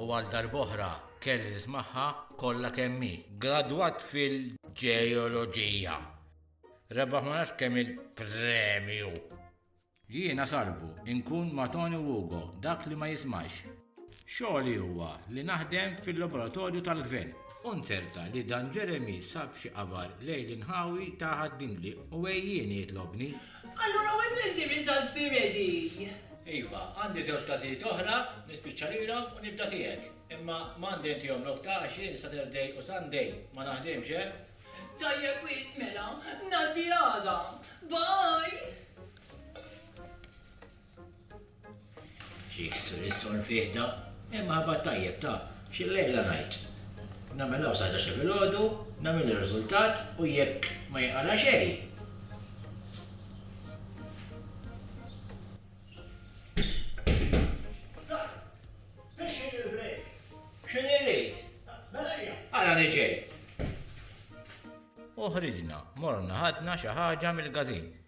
U għal darb'oħra kelli nismagħha kollha kemm hi. Gradwat fil-ġeoloġija. Rebaħ ma nafx kemm il-premju. Jiena salvu, inkun ma' Tony u Ugo, dak li ma jismax. Xogħli huwa li naħdem fil-laboratorju tal-gvern. U nzerta li dan Jeremy sab xi qabar lejl inħawi ta' ħaddimli u għejjieni jitlobni. Allura when will the results be ready? Iva, għandi żewġ każijiet oħra, nispiċċa lilhom u nibda tiegħek. Imma m'għandi intihom nokta għax jien Saturday u Sunday ma naħdimx, eh? Tajjeb wisq mela, ngħaddi għada. Bye! Jiksru l-istorn f'ieħda, imma ħabat tajjeb ta' xi lejla ngħid. Nagħmel hawn sa ħdax-il filgħodu, nagħmel ir-riżultat u jekk ma jinqala' xejn, x'inhi rrid, ara li ġej. U ħriġna, morna ħadna xi ħaġa mill-gazin.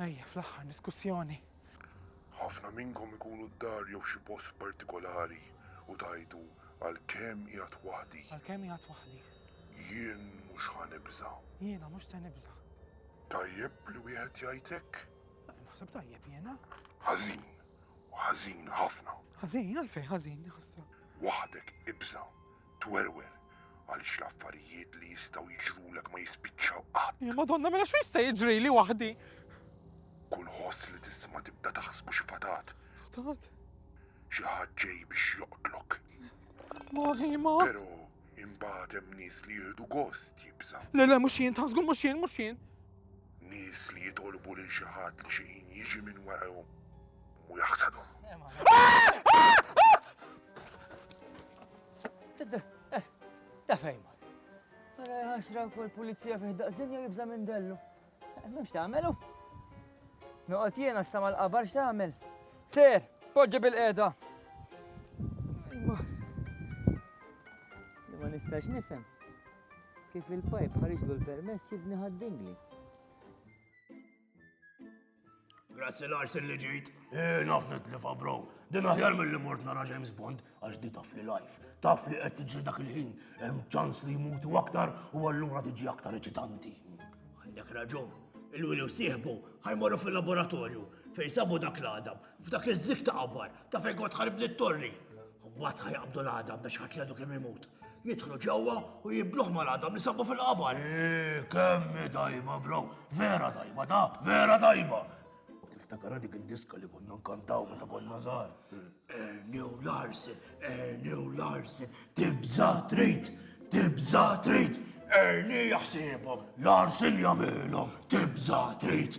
Ejja, fl-aħħar diskussjoni. Ħafna minnkom ikunu d-dar jew xi post partikolari u tgħidu, 'Għalkemm qiegħed waħdi. Għalkemm qiegħed waħdi. Jien mhux ħa nibża'. Jiena mhux se nibża'. Tajjeb li wieħed jgħid hekk? Naħseb tajjeb jiena. Ħażin. Ħażin ħafna. Ħażin? Għalfejn ħażin, ħasra? Waħdek ibża'. twerwer għaliex l-affarijiet li jistgħu jiġrulek ma jispiċċaw qatt. Il Madonna mela x'hu jista' jiġrili waħdi? Kull ħoss li tisma' tibda taħsbu xi fatat. Fatat? Xi ħadd ġej biex joqtlok. Ma ma. Però imbagħad hemm nies li jieħdu gost jibża. Le le mhux jien, taħsgu mhux jien, mhux jien. Nies li jitolbu lil xi ħadd li xi ħin jiġi minn warahom. Mu jaħsadu. Ta' fejn ma. Għara għaxra kol pulizija fih daqsdinja jibza minn dellu. Mux ta' għamelu. Noqot jena s-sama l-qabar xta' għamel. Ser, poġġi bil-qeda. Ma. Ma nistax nifem. Kif il-pajp ħariġlu l-permess jibni ħaddingli. Grazzi Lars li ġejt. Eh, naf nitlifa bro. Din aħjar mill-li mort nara James Bond għax di taf li life. Taf li qed tiġri dak il-ħin. Hemm ċans li jmutu aktar u allura tiġi aktar eċitanti. Għandek raġun. Il-wili u sieħbu ħajmorru fil-laboratorju fejn sabu dak l-għadam. F'dak iż-żig ta' qabbar, ta' fejn kont ħarib lit-torri. U mbagħad ħajqabdu l-għadam biex ħadd l-għadu kemm imut. Jidħlu ġewwa u jibluh mal-għadam li sabu fil-qabar. Eee, kemmi dajma, bro. Vera dajma, da, vera dajma. Tiftakar dik id-diska li konna nkantaw meta konna żgħar. Ernew Larsen, Ernew Larsen, tibża trid, tibża trid. Erni jaħsibhom, Larsen jagħmilhom, tibża trid.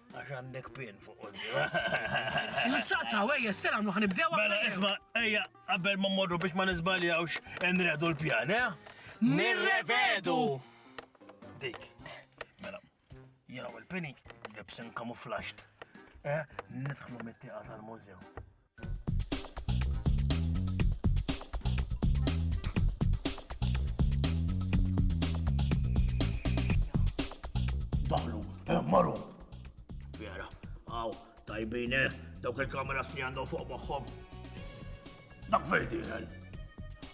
Għax għandek pin fuq qoddi. Insaqta, wejja, s-sena għamlu ħanibdew. Mela, isma, ejja, qabel ma morru biex ma nizbaljawx, nredu l-pjan, eh? Nirrevedu! Dik, mela, jena u l-pini, libsin kamuflaxt, eh? Nidħlu mit-tiqa tal-mużew. Daħlu, eh, maru. Vera, għaw, tajbin, eh, dawk il-kameras li għandhom fuq moħħom. Dak verdi, eh.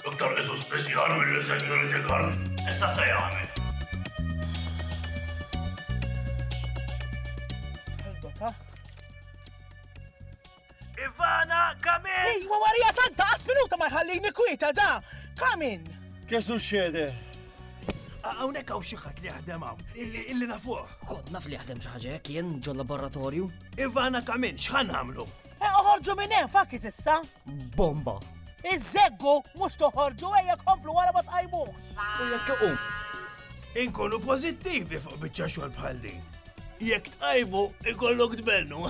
Iktar Ġesu speċjal mill-security guard. Issa se jagħmel. Dota. Ivana, come in! Ejwa, Marija Santa, għas minuta ma jħallini kwieta da! Come in! Kesu xede? Għawnek għaw xieħat li għadem għaw, illi nafuħ. Kod naf li għadem xaħġa, kien ġo laboratorju. Ivana, come in, xħan għamlu? Eh, uħorġu minn hemm fakit issa. Bomba! Iż-żeggu mhux toħorġu ejja komplu wara ma tqajmuh. U jekk iqum. Inkunu pożittivi fuq biċċa xogħol bħal din. Jekk tqajmu ikollok tbennu.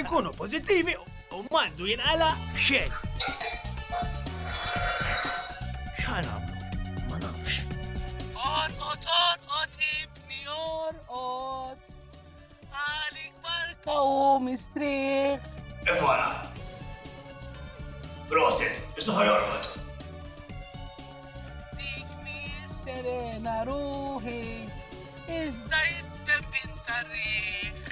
Inkunu pożittivi u mandu jinqala xejn. X'ħan għamlu? Ma nafx. Orqot, orqot, ibni, orqot. Għalik barka u mistrieħ. Efona. Prosit, isuħar jorqod. Dik mi serena ruħi, iżda jittebin tarriħ.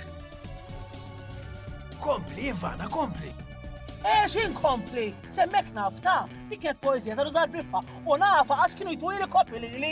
Kompli, Ivana, kompli. Ex eh, inkompli, semmek nafta, dik kienet poezija ta' Ruzar Briffa, u nafa għax kienu jtwili koppi li li.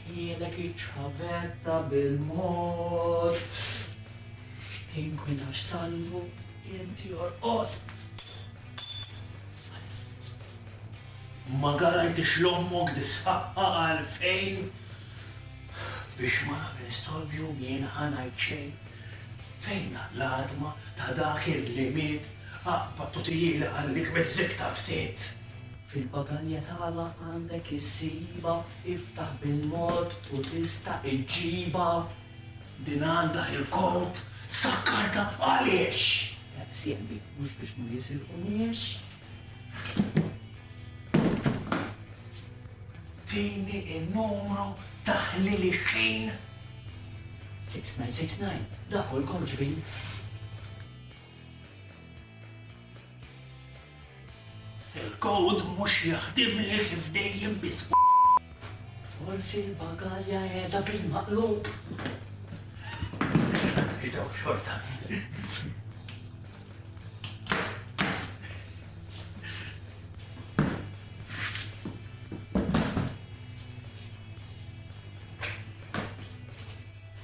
Jilek iċ-ċavetta bil-mod Tinkwinax salvu inti orqod Ma garajtix l-ommok dis-saqqa għalfejn biex ma nagħmel storbju jien ħanajt xejn. Fejn l-adma ta' dak il-li miet aqbad u tijili għallik miż-żikta f'sit. Fil-pagalja tagħla għandek issibha, iftaħ bil-mod u tista' iġġibha. Din għandha il-kod, sakkartha għaliex? Sieħbi, mhux biex ma jisilqunix. Tini in-numru ta' ħliel ix-xejn. 6969, dak hu l-kod ġbin. Il-kowd mhux jaħdimli kif dejjem biswit. Forsi l-bagalja qiegħda bil-maqlub. Idaw xorta.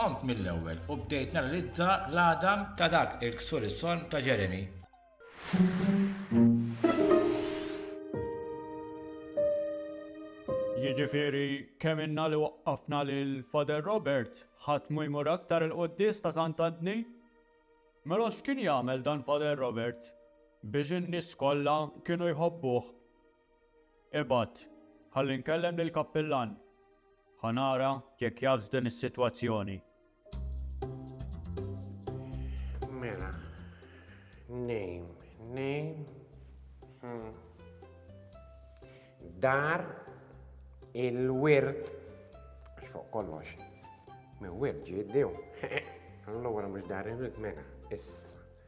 Qomt mill-ewwel u bdejt nanalizza l-għadam ta' dak il-ksur is-sonn ta' Jeremy. Jiġifieri kemm ilna li waqqafna lil Father Robert, ħadd mhu jmur aktar il-quddies ta' Sant'Antni? Mela x'kien jagħmel dan Father Robert biex in-nies kollha kienu jħobbuh? Ibgħat, ħalli nkellem lill-kappillan. Ħa nara jekk jafx din is-sitwazzjoni. Mela, nejm, nejm. Hmm. Dar il-wirt fuq kollox. Mi wirġi id-dew. Allora mux darin rid mena, issa.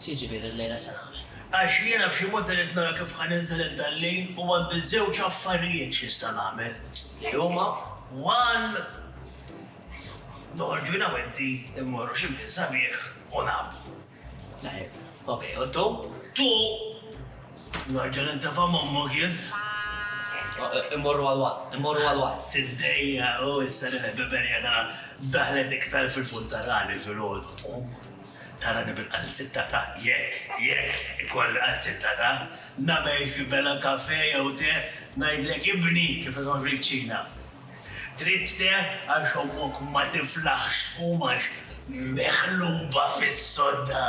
X'jiġifieri llejla se nagħmel? Għax jiena b'xi mod irrid nara kif ħa ninżel int għal-lejl u għandi żewġ affarijiet x'nista' nagħmel, li huma, one, noħorġu jiena u inti mmorru xi mkien sabiħ u nagħbu. Tajjeb. Ok, u two? Two, nerġa' nintefa' m'ommok jien. Immorru għall-one, immorru għall-one. Tiddejjaq u issa li l-ħbiberija tagħna daħlet iktar fil-punt ta' ragħni filgħodu. Tarani bil-qalzitta ta' jekk, jekk, ikolli qalzitta ta', nagħmel xi bella kafè jew te, ngħidlek ibni kif isgħod fiċ-ċina. Trid te għax ommok ma tiflaħx tqum għax meħluba fis-sodda.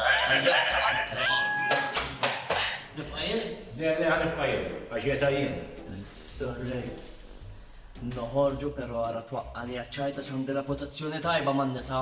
Nifqa' jien? Le, le, ħa nifqa' jien, għax qiegħda jien. Sorrejt. Noħorġu però ara twaqqagħni għaċ-ċajt għax għandi reputazzjoni tajba man-nisa.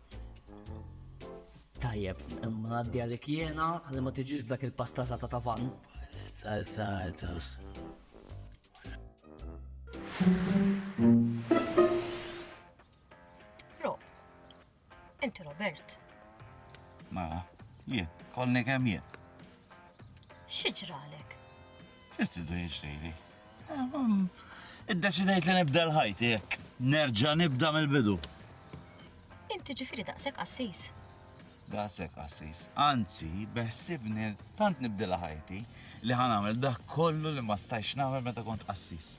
Tajjeb, imma għaddi għalik jena li ma tiġiġ dak il-pasta zata ta' van. Zazatus. Ro, inti Robert. Ma, mela, jien, kolni kem jien. Xieġralek? X'qed idu jiġrili? Iddeċidejt li nibda l-ħajti hekk. Nerġa' nibda mill-bidu. Inti ġifieri daqshekk qassis. Daqshekk qassis. Anzi, beħsibni tant nibdilha ħajti li ħa nagħmel dak kollu li ma stajx nagħmel meta kont qassis.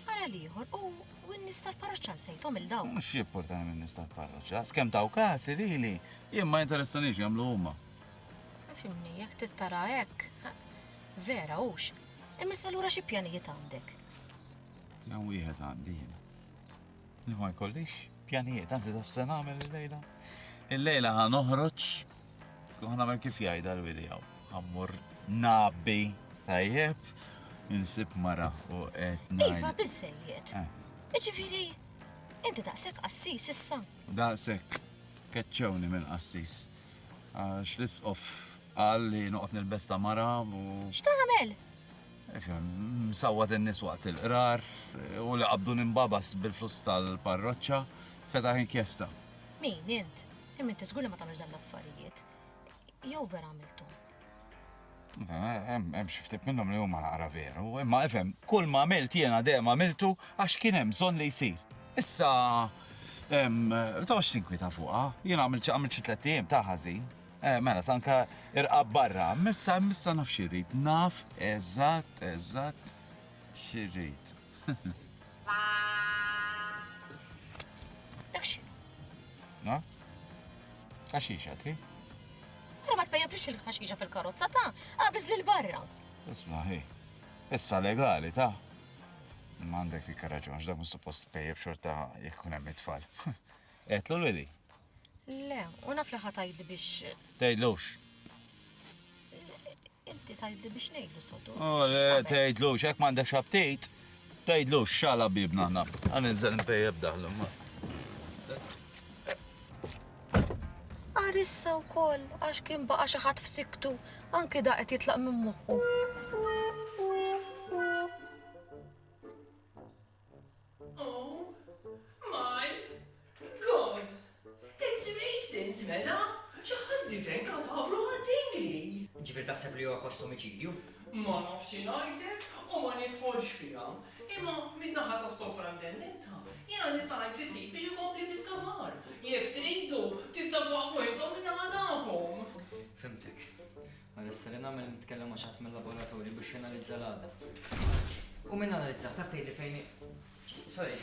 Ara l-ieħor u n-nies tal-parroċċa nsejthom il dawk. Mhux jipportani minn nies tal-parroċċa, skemm taw kasi lili, jien ma interessanix jagħmlu huma. Fimni, jekk tittara hekk, vera hux. Imma issa lura xi pjanijiet għandek? Jew wieħed għandi jien. Li ma jkollix pjanijiet, anzi taf se nagħmel il-lejla. Il-lejla ħa noħroġ, ħa nagħmel kif jgħidha l-wili hawn. Ammur nabi tajjeb, insib mara u qed ngħid. Iva biżejjed. Eh. Iġifieri, inti daqshekk qassis issa. Daqshekk keċċewni mill-qassis. Għax l-Isqof qal li noqgħod nilbes ta' mara u. X'tagħmel? Ifhem, msawwat in-nies waqt il-qrar u li qabdu ninbabas bil-flus tal-parroċċa, fetaħ inkjesta. Min, int? Imma inti żgur li ma tagħmilx dawn l-affarijiet. Jew vera għamilthom? Hemm xi ftit minnhom li huma naqra veru, imma ifhem, kull ma għamilt jiena dejjem għamiltu għax kien hemm bżonn li jsir. Issa, ma toqgħodx tinkwieta fuqha, jiena għamilt xi għamilt xi tlett ijiem ta' ħażin. Mela, sa anke irqab barra, imma issa imma issa naf xi rrid, naf eżatt eżatt xi rrid. Dak x'inhu? Naf? Għaxixa trid? Ara ma tpejjeblix il-ħaxixa fil-karozza ta' qabiż lil barra. Isma' hi. Issa legali ta' Ma għandek dik raġun, x'dak mhux suppost tpejjeb xorta jekk ikun hemm it-tfal. Qedlu lili? Le, u naf li ħa tgħidli biex. Tgħidlux. Inti tgħidli biex ngħidlu sotu. Oh, eh, tgħidlu, xek m'għandek xabtit, tgħidlu xala bibna ħna. Għan inżel npejjeb daħlu ma. Arissa u koll, għax kien baqa xaħat f'siktu, anki da qed jitlaq minn moħħu. Oh my God! It's recent, mela! Xi ħadd diven katavru għad-dingli! Jiġifieri taħseb li huwa post omiċidju? Ma nafx xi ngħidlek u ma nidħolx fiha. Imma min-naħa tas-sovrantendenza jiena nista' ngħid li ssib biex ikompli bl-iskavar. Jekk tridu, tistgħu twaqqfu intom min-naħa tagħkom. Fhimtek. Ma nista' li nagħmel nitkellem ma' xi ħadd mil-laboratorju biex janalizza l-għadda. U min analizzah taf tgħidli fejn Sorry.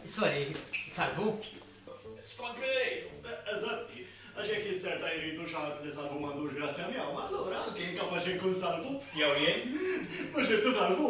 Sorry, salvu? Skont min irid. Eżatti, għax jekk jisserta jridu xi ħadd li salvu m'għandux grazzja miegħu, allura anke jien kapaċi nkun salvu. Jew jien. Mhux int isalvu.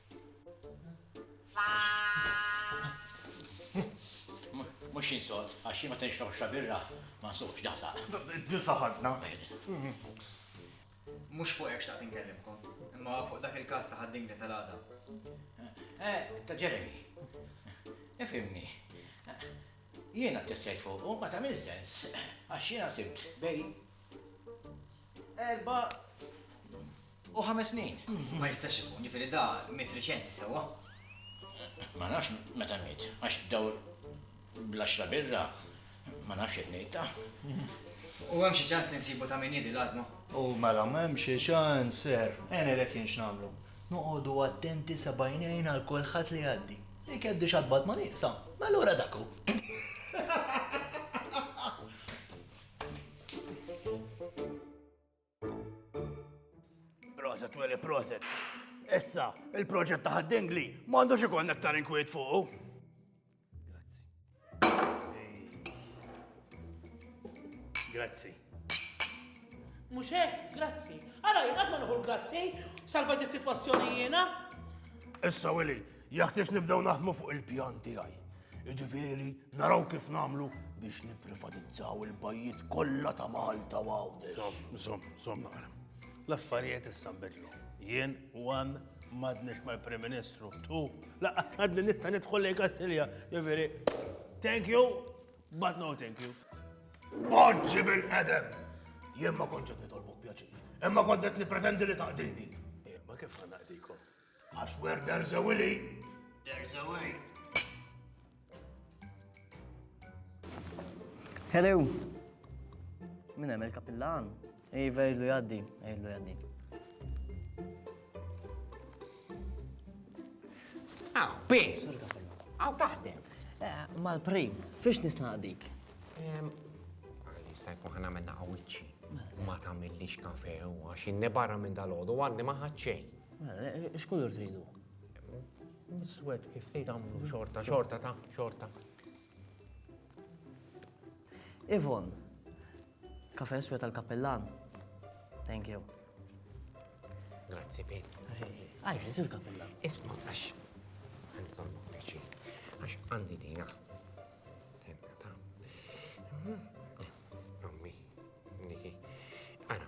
Mhux jien sod, għax jien meta nixrob xi birra ma nsofx daħsaq. Din saħħatna. Mhux fuq hekk xtaqt inkellimkom, imma fuq dak il-każ ta' ħad-dingli tal-għada. Eh, ta' Jeremy. Ifhimni. Jiena ttestjajt fuqu, ma tagħmilx sens, għax jiena sibt bejn erba' U ħames snin? Ma jistax ikun, ġifiri da mit riċenti sewa. Ma nafx meta mit, għax daw bl-axra birra, ma nafx qed ngħidha. U hemm xi ċans li nsibu ta' min jidi l-adma? U mela m'hemm xi ċans, ser, għenilek jien x'nagħmlu. Noqogħdu attenti sa bajnejn għal kulħadd li jgħaddi. Jekk jgħaddi x'adbad ma nieqsa, mela ura dak hu. Proset, Willy, proset. Issa, il-proġett ta' ħaddingli m'għandux ikun aktar inkwiet fuq. Grazzi. Grazzi. Mhux hekk, grazzi. Ara jien qatt ma nuħu l-grazzi, salvajt is-sitwazzjoni jiena. Issa, Willy, Jeħtieġ nibdew naħdmu fuq il-pjan tiegħi. Jiġifieri naraw kif nagħmlu biex nipprivatizzaw il-bajjiet kollha ta' Malta u Għawdex. Żomm, żomm, żomm naqra. L-affarijiet issa nbidlu. Jien one m'għadniex mal-Prim Ministru, tu laqqas għadni nista' nidħol lejn Kastilja. Jiġifieri, thank you, but no thank you. Poġġi bil-qedem! Jien ma kontx qed nitolbok pjaċir. Imma kont qed nippretendi li taqdini. Eh, ma kif ħa naqdikom? I swear there's a willy. There's a way. Hello. Min hemm il-kapillan? Iva jgħidlu jgħaddi, jgħidlu jgħaddi. Aw, pi! Aw taħdem. Eh, Mal-prim, fiex nista' dik? Għalli sajku ħana minna għawicċi. Ma tamillix kafe u għax inni barra minn dal-ħodu għadni maħħadċej. X'kulur tridu? Miswed kif tgħid għamlu xorta, xorta ta' xorta. Ivon, kafe swed tal-kappellan. Thank you. Grazzi, Pete. Għajx, jisir kapilla. Isma, għax, għandi tal għax għandi dina. Tenna ta' Ammi, niki. Ara,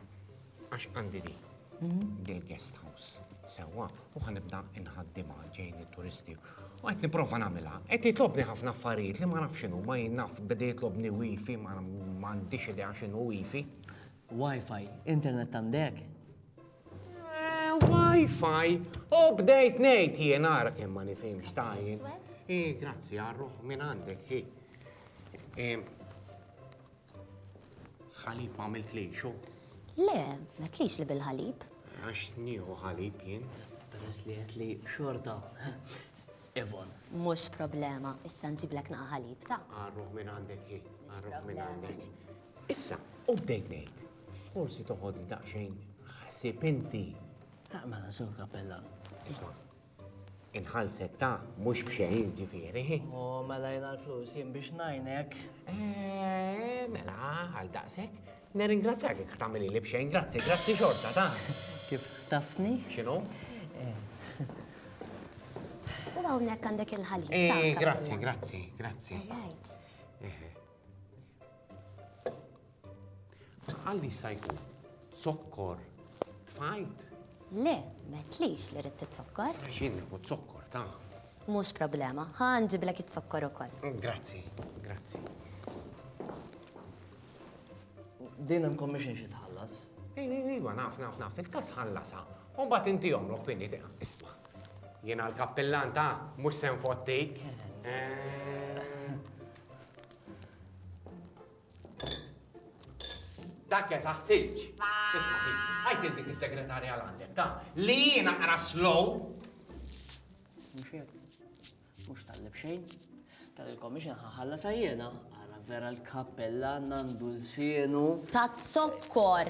għax għandi di, mhm. dil-guest house, sewa, u għanibda inħaddima ġejn il-turisti. U għet niprofa namila, għet jitlobni ħafna affarijiet li ma nafxinu, ma jinnaf, bidi jitlobni wifi, ma għandix idea xinu wifi. Wi-Fi, internet għandek? Eh, Wi-Fi, u bdejt nejt jien għara kien ma nifimx tajjin. I, grazzi għarru, minn għandek, hi. Ħalib ma għamilt li xo? Le, ma tlix li bil-ħalib. Għax nieħu ħalib jien. Peress li għet li xorta. Evon. Mux problema, issa nġiblek naqa ħalib ta' Għarruħ minn għandek hi, għarruħ minn għandek. Issa, u bdejt ngħid, forsi toħod daqsxejn ħsib inti. Naqma sur kappella. Isma, Inħalsek ta' mhux b'xejn ġifieri. O, mela jena l-flus jien biex najnek. Eh, mela, għal daqsek. Neringrazzjak jek tamili li bxejn, grazzi, grazzi xorta ta' Kif tafni? Xinu? Eh. U għawnek għandek il-ħalib. Eh, grazzi, grazzi, grazzi. Right. Eh. Għalli jista' jkun zokkor tfajt? Le, metlix li rrid zokkor. Xin u zokkor ta'. Mhux problema, ħan ġiblek it-zokkor ukoll. Grazzi, grazzi. Din hemm commission xi tħallas? Iva, naf, naf, naf, fil-kas ħallasa. U bat inti jomlok finni tiqa. Isma, jena l-kappillan ta' mux sen fottik. Eh. Dak ja saħsilġ. Isma' hi, għajt il dik is-segretarja għandek ta' li jiena qra slow. Mhux hekk. Mhux tallib xejn. Tal il-commission ħalla sa jiena ara vera l-kappella nandu l-sienu. Ta' zokkor.